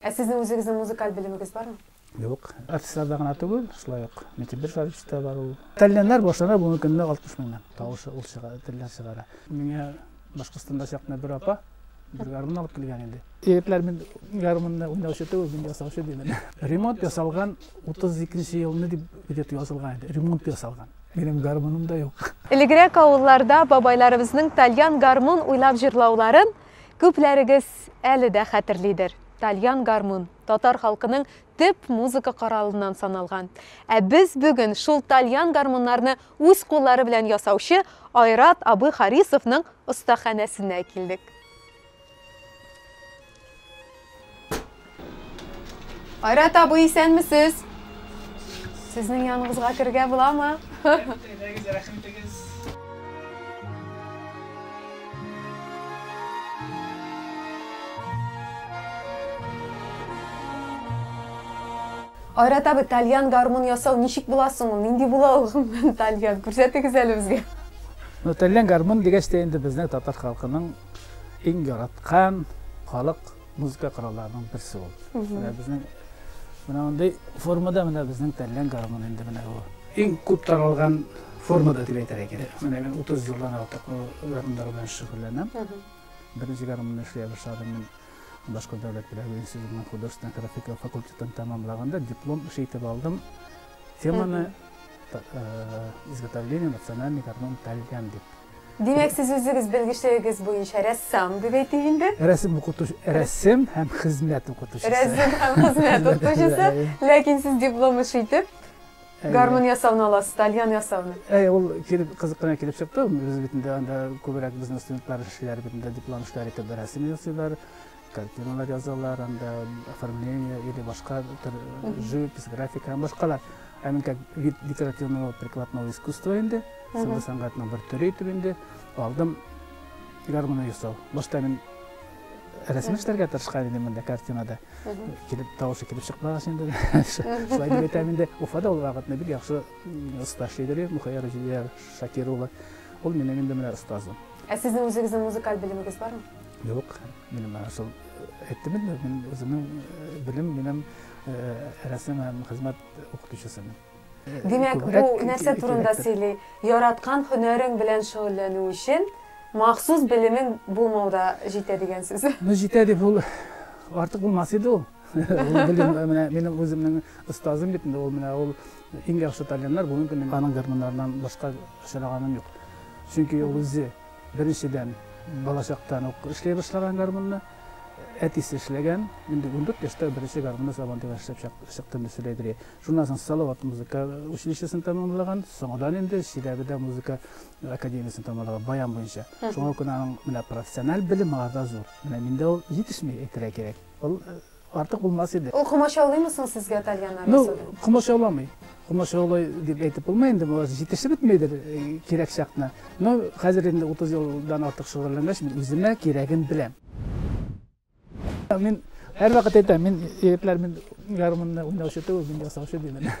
Ә сезнең үзегезнең музыкаль белемегез бармы? Юк, артистларда гына түгел, шулай ук митибер шарифта бар ул. Тәлләннәр башлана бүгенге көндә 60 меңнән. Тавышы ул чыга, тәллән чыгара. Миңа Башкортстанда чакны бер апа бер гармун алып килгән иде. Егетләр мин гармунны уйнаучы түгел, мин ясаучы димен. Ремонт ясалган 32 елны дип билет язылган иде. Ремонт ясалган. Минем гармуным да юк. Элегрәк авылларда бабайларыбызның тальян гармун уйлап җырлауларын Күпләрегез әле дә хәтерлидер, тальян гармун, татар халкының төп музыка коралыннан саналган. Ә без бүген шул тальян гармуннарны үз куллары белән ясаучы Айрат абый Харисовның остаханәсенә килдек. Айрат абый, исәнмесез? Сезнең яныгызга кергә буламы? Әйдәгез, рәхим итегез. Айрат абый, тальян гармун ясау ничек була соң ул? Нинди була ул гомумән тальян? Күрсәтегез әле безгә. Ну, тальян гармун дигәч тә инде безнең татар халкының Иң яраткан халык музыка коралларының берсе ул. Менә безнең менә мондый формада менә безнең тәллән гармон инде менә бу. Иң күп таралган формада дип әйтергә кирәк. Менә мин 30 елдан артык гармоннар белән шөгыльләнәм. Беренче гармонны эшли башладым мин Башкорт дәүләт педагогик институтының художественная графика факультетын тәмамлаганда диплом эше итеп алдым. Теманы изготовление национальный гармон тәлгән дип. Димәк, сез үзегез белгечлегегез буенча рәссам, дип әйтик инде? Рәсем укытучы, рәсем һәм хезмәт укытучысы. Рәсем һәм хезмәт укытучысы, ләкин сез диплом эше итеп гармун ясауны аласыз, тальян ясауны. Әйе, ул килеп кызык кына килеп чыкты. Без бит инде анда күбрәк безнең студентлар эшләр бит инде диплом эшләре итеп рәсем ясыйлар. Картиналар язалар, анда оформление или башка төр живопись, графика һәм башкалар. Ә мин как вид декоративного прикладного искусства инде, сәүдә сәнгатының бер төре итеп инде алдым гармония ясау. Башта мин рәсем эшләргә тырышкан идем монда картинада. Килеп тавышы килеп чыкмагач инде. Шулай дип әйтәм инде. Уфада ул вакытны бик яхшы оста шигырь Мухаяр Җилия Шакир улы. Ул минем инде менә остазым. Ә сезнең үзегезнең музыкаль белемегез бармы? Юк, минем шул әйттем инде, мин үземнең белем минем рәсем һәм хезмәт укытучысымын. Димәк, бу нәрсә турында сөйли? Яраткан һөнәрең белән шөгыльләнү өчен махсус белемең булмау да җитә дигән сүз. Ну, җитә дип ул артык булмас иде ул. Ул белем менә минем үземнең остазым бит инде ул менә ул иң яхшы талиннар бүгенге көндә аның гармуннарыннан башка очраганым юк. Чөнки ул үзе Беренчедән, балачактан ук эшли башлаган гармунны. Әтисе эшләгән. Инде ундүрт яшьтә беренче гармунны Сабантуйга эшләп чыктым, дип сөйли Әйдерия. Шуннан соң Салават музыка училищесын тәмамлаган. Соңгыдан инде Чиләбедә музыка академиясен тәмамлаган, баян буенча. Шуңа күрә аның менә профессиональ белеме аларда зур. Менә миндә ул җитешми, әйтергә кирәк. Ул Артык булмас иде. Ул комачаулыймы соң сезгә тальяннар Ну, ясауда? комачауламый. Комачаулый дип әйтеп булмый инде, бу җитешеп бетмидер э, кирәк чакны. Но хәзер инде 30 елдан артык шөгыльләнгәч, мин үземә кирәген беләм. Мин һәрвакыт әйтәм, мин егетләр, мин гармунны уйнаучы түгел, мин ясаучы димен.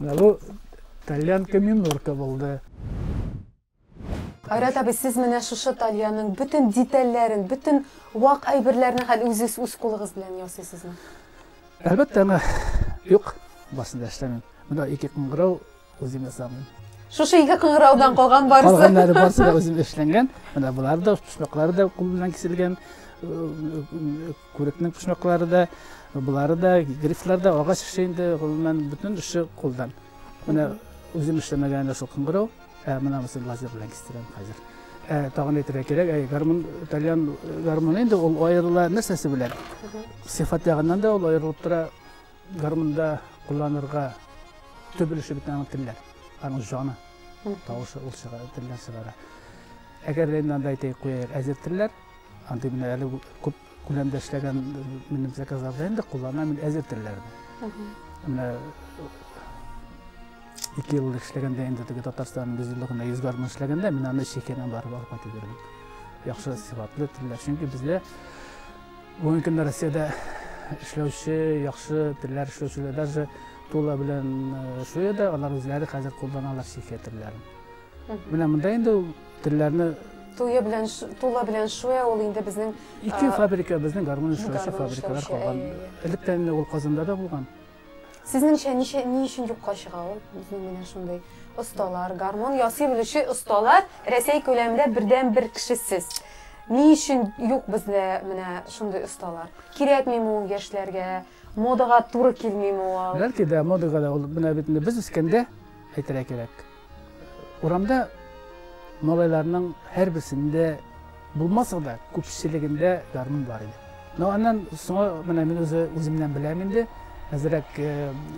Менә бу тальянка минорка булды. Айрат абый, сез менә шушы тальянның бөтен детальләрен, бөтен вак әйберләрне хәл үзегез үз кулыгыз белән ясыйсызмы? Әлбәттә, аңа юк, барысын да эшләмим. Менә ике кыңгырау үзем ясамын. Шушы ике кыңгыраудан калган барысы. Калганнары барысы да үзем эшләнгән. Менә болар да, почмаклары да кул белән киселгән, э, э, Күрекнең почмаклары да, болары да, грифлар да агач эше инде, гомумән бөтен эше кулдан. Менә үзем эшләмәгән әле шул кыңгырау, ә менә мосын лазер белән кистерәм хәзер. Ә, тагын әйтергә кирәк, ә, гармун, итальян гармуны инде ул аерыла нәрсәсе белән? Сыйфат ягыннан да ул аерылып тора. Гармунда кулланырга төп өлеше бит аның телләр, аның җаны, тавышы ул чыгара, телләр чыгара. Әгәр дә инде анда әйтәйек, куяйк, әзер телләр, Андый менә әле күп күләмдә эшләгән минем заказларда инде кулланам мин әзер телләрне. Менә ике ел эшләгәндә инде теге Татарстан бизилыгына йөз гармун эшләгәндә мин аны Чехияннан барып алып кайтып бирдем. Яхшы сыйфатлы телләр, чөнки бездә бүгенге көндә Россиядә эшләүче, яхшы телләр эшләүчеләр даже Тула белән э, Шуяда алар үзләре хәзер кулланалар Чехия телләрен. Менә монда инде ул телләрне Туя белән тула белән шуя ул инде безнең ике фабрика безнең гармун эшләүче фабрикалар калган. Электән инде ул Казанда да булган. Сезнеңчә ничә ни өчен юкка чыга ул? Менә шундый осталар, гармун ясый белүче осталар Рәсәй күләмендә бердән бер кешесез. Ни өчен юк бездә менә шундый осталар? Кирәкмиме ул яшьләргә? Модага туры килмиме ул? Бәлки дә модага да ул менә бит без үскәндә әйтергә кирәк. Урамда малайларның һәрберсендә булмаса да, күпчелегендә гармун бар иде. Но аннан соңа менә мин үзе үземнән беләм инде, әзрәк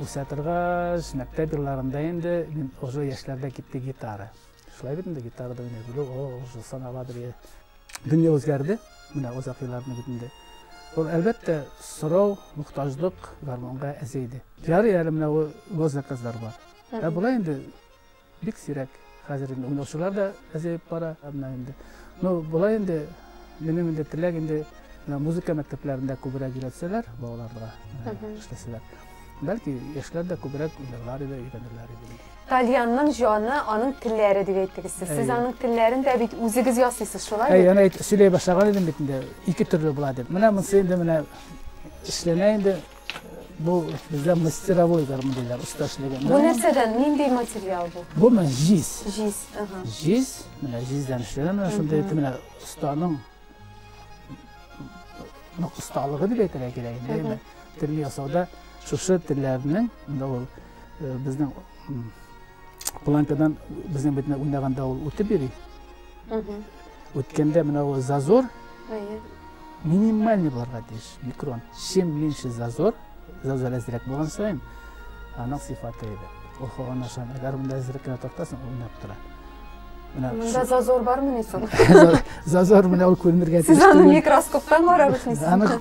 үсә торгач, мәктәп елларында инде мин уже яшьләрдә китте гитара. Шулай бит инде гитарада уйный белү, о, уже саналадыр. Дөнья үзгәрде, менә озак елларның битендә. Ул әлбәттә сорау, мохтаҗлык гармунга әзер иде. Ярый әле менә госзаказлар бар. Ә болай инде бик сирәк хәзер инде уйнаучылар да әзәеп бара. Менә инде. Ну, болай инде минем инде теләк инде музыка мәктәпләрендә күбрәк өйрәтсәләр балаларга эшләсәләр. Бәлки яшьләр дә күбрәк уйларлар иде, өйрәнерләр иде. Тальянның җаны, аның телләре дип әйттегез сез. Сез аның телләрен дә бит үзегез ясыйсыз, шулай бит? Әй, аны әйтеп сөйли башлаган идем бит инде. Ике төрле була дип. Менә монсы инде менә эшләнә инде. Бу бездә мастеровой гармун диләр, оста эшләгән. Бу нәрсәдән, нинди материал бу? Бу менә җиз. Җиз, ага. Җиз, менә җиздән эшләнгән, менә шундый итеп менә останың нык осталыгы дип әйтергә кирәк инде. Әмма тел ясауда шушы телләрнең, инде ул э, безнең м, планкадан безнең бетне уйнаганда ул үтеп йөри. Мгм. Үткәндә менә ул зазор минимальный булырга тиеш, микрон. Чем меньше зазор, зазор әзрәк булган саен, аның сыйфаты әйбәт. Ул һаваны ашан, әгәр монда әзрәк кенә тартасың, ул уйнап тора. Менә монда зазор бармы ни соң? Зазор менә ул күренергә тиеш. Сез аны микроскоптан карап эшлисез. Аны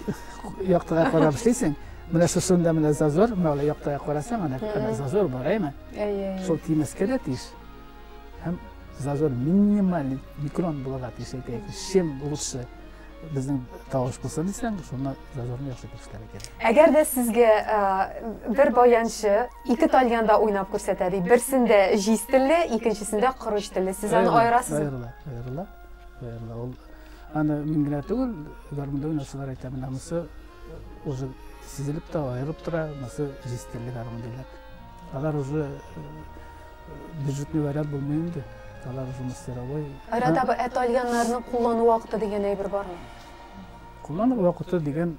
яктыга карап эшлисең. Менә шушында менә зазор, менә яктыга карасаң, ана зазор бар, әйме? Әйе. Шул тимәскә дә тиеш. Һәм зазор минималь микрон булырга тиеш икән. Чем лучше безнең тавыш булса дисәң, шуны зазорны яхшы күрсәтә кирәк. Әгәр дә сезгә бер баянчы ике тальянда уйнап күрсәтә ди, берсендә җиз телле, икенчесендә корыч телле. Сез аны аерасыз? Аерыла, аерыла. Аерыла. Ул аны мин генә түгел, гармунда уйнаучылар әйтә, менә монысы уже сизелеп тә аерып тора, монысы җиз телле гармун диләр. Алар уже Бюджетный вариант булмый инде. Алар уже мастеровой. Арада бу әтальяннарны куллану вакыты дигән әйбер бармы? Куллану вакыты дигән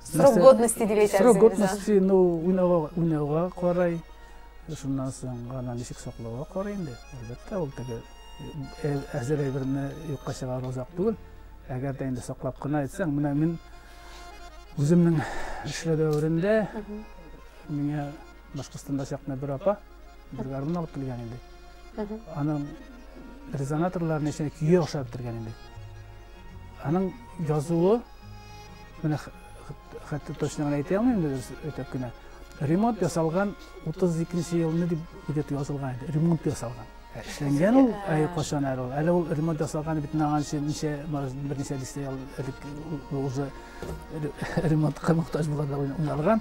Срок годности дип әйтәсез. Срок годности, ну, уйнауга, уйнауга карай, шуннан соң гана ничек саклауга карай инде. Әлбәттә, ул теге э, әзер әйберне юкка чыгару озак түгел. Әгәр дә инде саклап кына әйтсәң, менә мин үземнең эшләү дәверендә миңа Башкортстанда чакны бер апа бер гармун алып килгән инде. Аның резонаторларын эченә көе охшап бетергән инде. Аның язуы менә хәтта точно гына әйтә алмыйм инде өтәп кенә. Ремонт ясалган 32 елны дип идет язылган иде. Ремонт ясалган. Эшләнгән ул әй кашан әле ул. Әле ул ремонт ясалган бит наган өчен ничә берничә дистә ел элек уже ремонтка мохтаҗ буларда уйналган.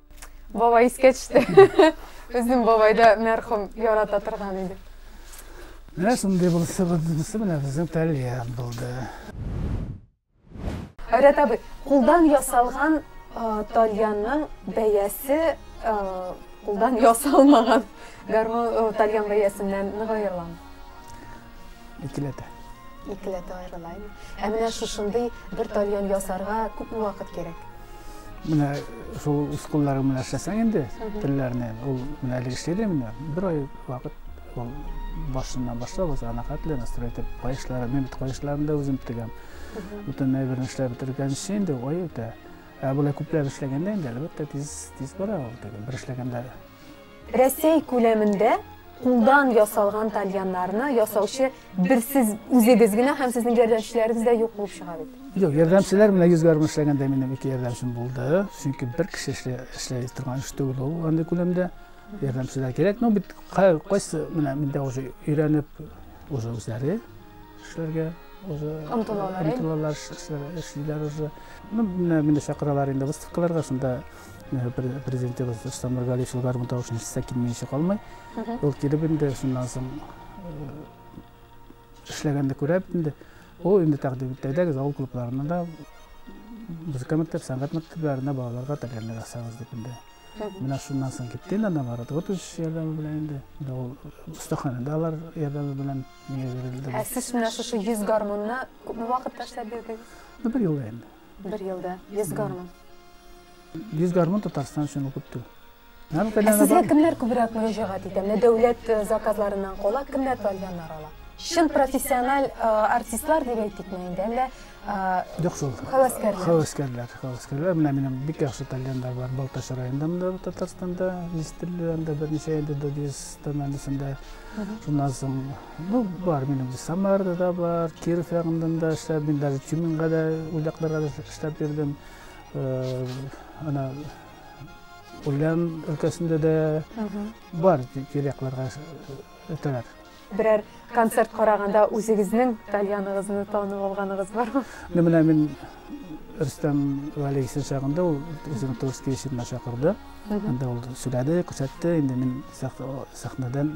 Бабай искә төште. Безнең бабай да мәрхүм ярата торган иде. Менә шундый булса булса менә безнең Тальян булды. Айрат абый, кулдан ясалган тальянның бәясе кулдан ясалмаган гармон тальян бәясеннән нык аерыламы? Икеләтә. Икеләтә аерыла. Ә менә шушындый бер тальян ясарга күпме вакыт кирәк? Менә шул ускулларын менә эшләсәң инде, телләрне, ул менә әле эшләде менә, бер ай вакыт ул башыннан башлап, узган хәтле настрой итеп, каешлары, мин бит каешларын да үзем тегәм. Бүтән әйберне эшләп бетергәнче инде ай үтә. Ә болай күпләп эшләгәндә инде, әлбәттә, тиз, тиз бара ул теге. Бер эшләгәндә Рәсәй күләмендә кулдан ясалган тальяннарны ясаучы бер сез үзегез генә һәм сезнең ярдәмчеләрегез дә юк булып чыга бит. Юк, ярдәмчеләр менә йөз гармун эшләгәндә минем ике ярдәмчем булды. Чөнки бер кеше эшлә, эшләй торган эш түгел ул андый күләмдә. Ярдәмчеләр кирәк. Ну бит кайсы менә миндә уже өйрәнеп уже үзләре эшләргә уже омтылалар. Омтылалар эшлиләр уже. Ну менә мине чакыралар инде выставкаларга шунда Президентыбыз Рустам Нургалиевич гармун тавышын ишетсә килмәенчә калмый. Ул килеп инде шуннан соң эшләгәнне күрә инде. Ул инде тәкъдим итәдәгез авыл клубларына да музыка мәктәп, сәнгать мәктәпләренә балаларга тәгәрнәк асабыз дип инде. Менә шуннан соң китте инде анда Марат Готович ярдәме белән инде. Менә ул остаханәдә алар ярдәме белән миңа бирелде. Ә сез менә шушы 100 гармунны күпме вакытта эшләп бирдегез? Бер ел инде. Бер елда 100 гармун. 100 гармун Татарстан өчен ул күп түгел. Ә сезгә кемнәр күбрәк мөрәҗәгать итә? Менә дәүләт э, заказларыннан кала кемнәр павильоннар ала? Чын профессиональ э, артистлар дип әйтик инде, әллә э, Юк шул. Хәвәскәрләр. Хәвәскәрләр, хәвәскәрләр. Менә минем бик яхшы павильоннар бар. Балтач районында монда Татарстанда, Листерле районында берничә инде Додис тәмәнесендә. Шуннан соң Бу бар минем Самарда да бар, Киров ягында да эшләп, мин даже Тюменьга да, Ульякларга да эшләп бирдем. Э, ана Ульян өлкәсендә дә бар тирәкләргә үтәләр. Берәр концерт караганда үзегезнең тальяныгызны танып алганыгыз бармы? Ну менә мин Рөстәм Валейсен чагында ул үзен Турский ишетмә чакырды. Анда ул сүләде, күрсәтте, инде мин сәхнәдән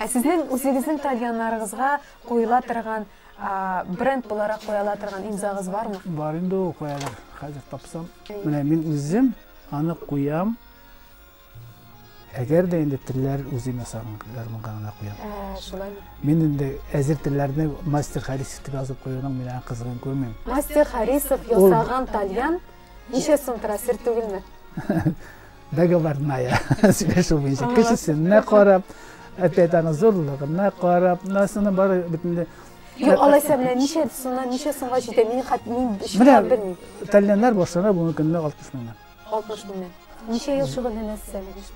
Ә сезнең үзегезнең тальяннарыгызга куела торган бренд буларак куела торган имзагыз бармы? Бар инде ул куялар. Хәзер тапсам. Менә мин үзем аны куям. Әгәр дә инде телләр үзем ясаган гармунга гына куям. Ә, шулай. Мин инде әзер телләрне мастер Харисов дип язып куюның мин аңа кызыгын күрмим. Мастер Харисов ясаган тальян ничә сум тора сер түгелме? Договорная сөйләшү буенча кешесенә карап, әпәт аны зурлыгына карап, насының бары битендә Юк, алайса менә ничә сумнан ничә сумга җитә? Мин хат мин чынлап белмим. Тальяннар башлана бүгенге көндә 60 меңнән. 60 меңнән. Ничә ел шөгыльләнәсез?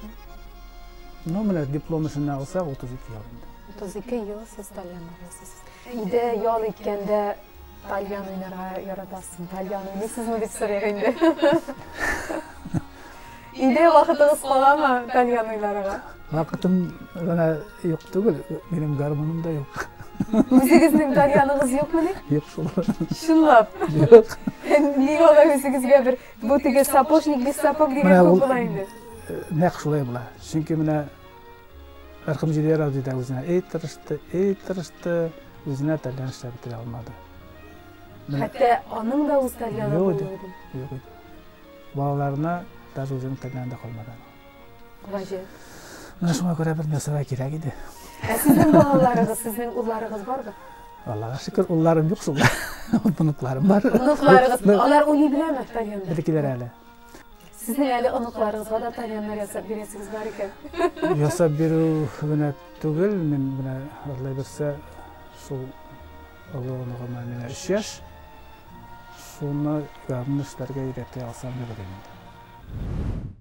Ну, менә диплом эшенә алсак, 32 ел инде. 32 ел сез тальян уйныйсыз. Өйдә ял иткәндә тальян уйнарга яратасызмы? Тальян уйныйсызмы дип сорыйк инде. Өйдә вакытыгыз каламы тальян уйнарга? Вакытым гына юк түгел, минем гармоным да юк. Үзегезнең тальяныгыз юкмы ни? Юк шул. Чынлап? Юк. Нигә алай үзегезгә бер Бу теге сапожник без сапог дигән Менә ул- күп була инде. Нәкъ шулай була. Чөнки менә Рәхим Җидәр абзый да үзенә эй тырышты, эй тырышты, үзенә тәлгән эшләп бетерә алмады. Менә Хәтта аның да үз тәлгәне Юк, булды. юк. Балаларына даже үзенең тәлгәне дә калмады. Гаҗәп. Менә шуңа күрә бер нәрсәләр кирәк иде. Ә сезнең балаларыгыз, сезнең улларыгыз барбы? Аллага шөкер, улларым юк шул. Оныкларым бар. Оныкларыгыз, алар уйный беләме тальянда? Бирекиләр әле. Сезнең әле оныкларыгызга да тальяннар ясап бирәсегез бар икән. Ясап бирү генә түгел, мин менә алла бирсә, шул олы оныгыма менә 3 яшь. Шуны ягымлы эшләргә өйрәтә алсам дип уйлыйм.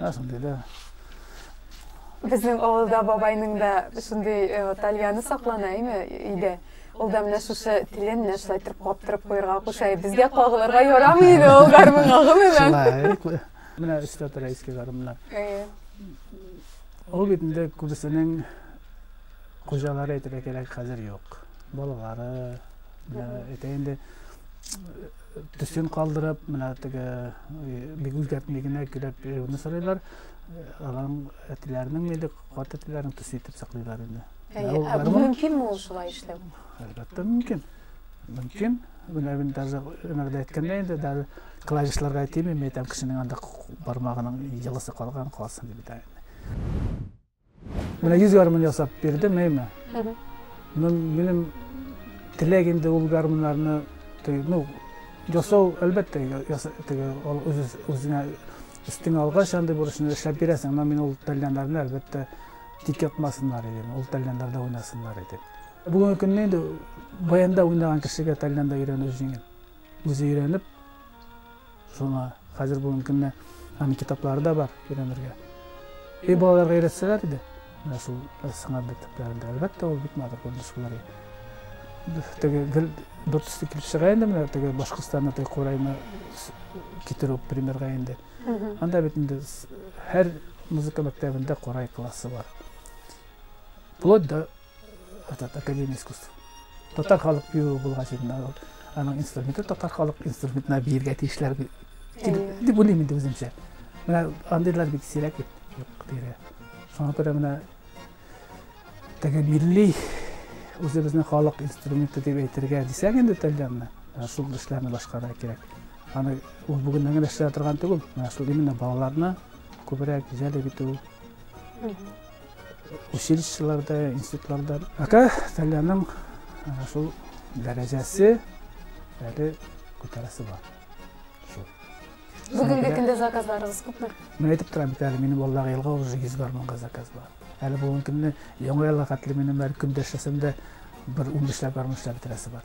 Әсендилә. Безнең авылда бабайның да шундый э, тальяны саклана, әйме, өйдә. Ул да менә шушы телен менә шулай торып каптырып куярга куша. Безгә кагылырга ярамый иде ул гармун агымы белән. Шулай. Менә өстә тора иске гармуннар. Э. Ул бит инде күбесенең хуҗалары әйтергә кирәк, хәзер юк. Балалары, әйтә инде төсен калдырып, менә теге бик үзгәртми генә көйләп йөрүне сорыйлар. Аларның әтиләренең инде кат әтиләрен төс итеп саклыйлар инде. Әйе, мөмкин ул шулай эшләү? Әлбәттә, мөмкин. Мөмкин. Менә мин даже өнәрдә әйткәндә инде даже клавишларга әйтмим, әйтәм кешенең анда бармагының йылысы калган калсын дип әйтәм. Менә йөз гармун ясап бирдем, әйме. Минем теләк инде ул гармуннарны ну, жасау, әлбәттә, теге, ул үз, үзенә өстеңә алгач, андый бурычны эшләп бирәсең, но мин ул тәлләннәрне, әлбәттә, тик ятмасыннар идем, ул тәлләннәрдә уйнасыннар идем. Бүгенге көнне инде баянда уйнаган кешегә тәлләндә өйрәнү җиңел. Үзе өйрәнеп, Шуңа хәзер бүгенге көндә аның китаплары да бар өйрәнергә. Өй балаларга өйрәтсәләр иде, менә шул сыңар мәктәпләрендә. Әлбәттә, ул бик матур күренеш булыр иде. Теге гел бер төсле килеп чыга инде менә теге Башкортстаннан теге курайны китерү примерга инде. Анда бит инде һәр музыка мәктәбендә курай классы бар. Вплоть до этот академия искусств татар халык биюе булгач инде ул аның инструменты татар халык инструментына биергә тиешләр бит дип уйлыйм инде үземчә менә андыйлар бик сирәк бит юк дияргә шуңа күрә менә теге милли үзебезнең халык инструменты дип әйтергә дисәк инде тәлгәнне шул эшләрне башкарырга кирәк аны ул бүгеннән генә эшләп торган түгел менә шул именно балаларны күбрәк җәлеп итү Училищеларда, институтларда. Пока Тальяның шул дәрәҗәсе әле күтәрәсе бар. Шул. Бүгенге көндә заказларыгыз күпме? Мин әйтеп торам бит әле, минем балаларга елга уже 100 гармунга заказ бар. Әле бүгенге көнне яңа елга хәтле минем әле көндәшәсем дә бер 15 ләп гармун эшләп бетерәсе бар.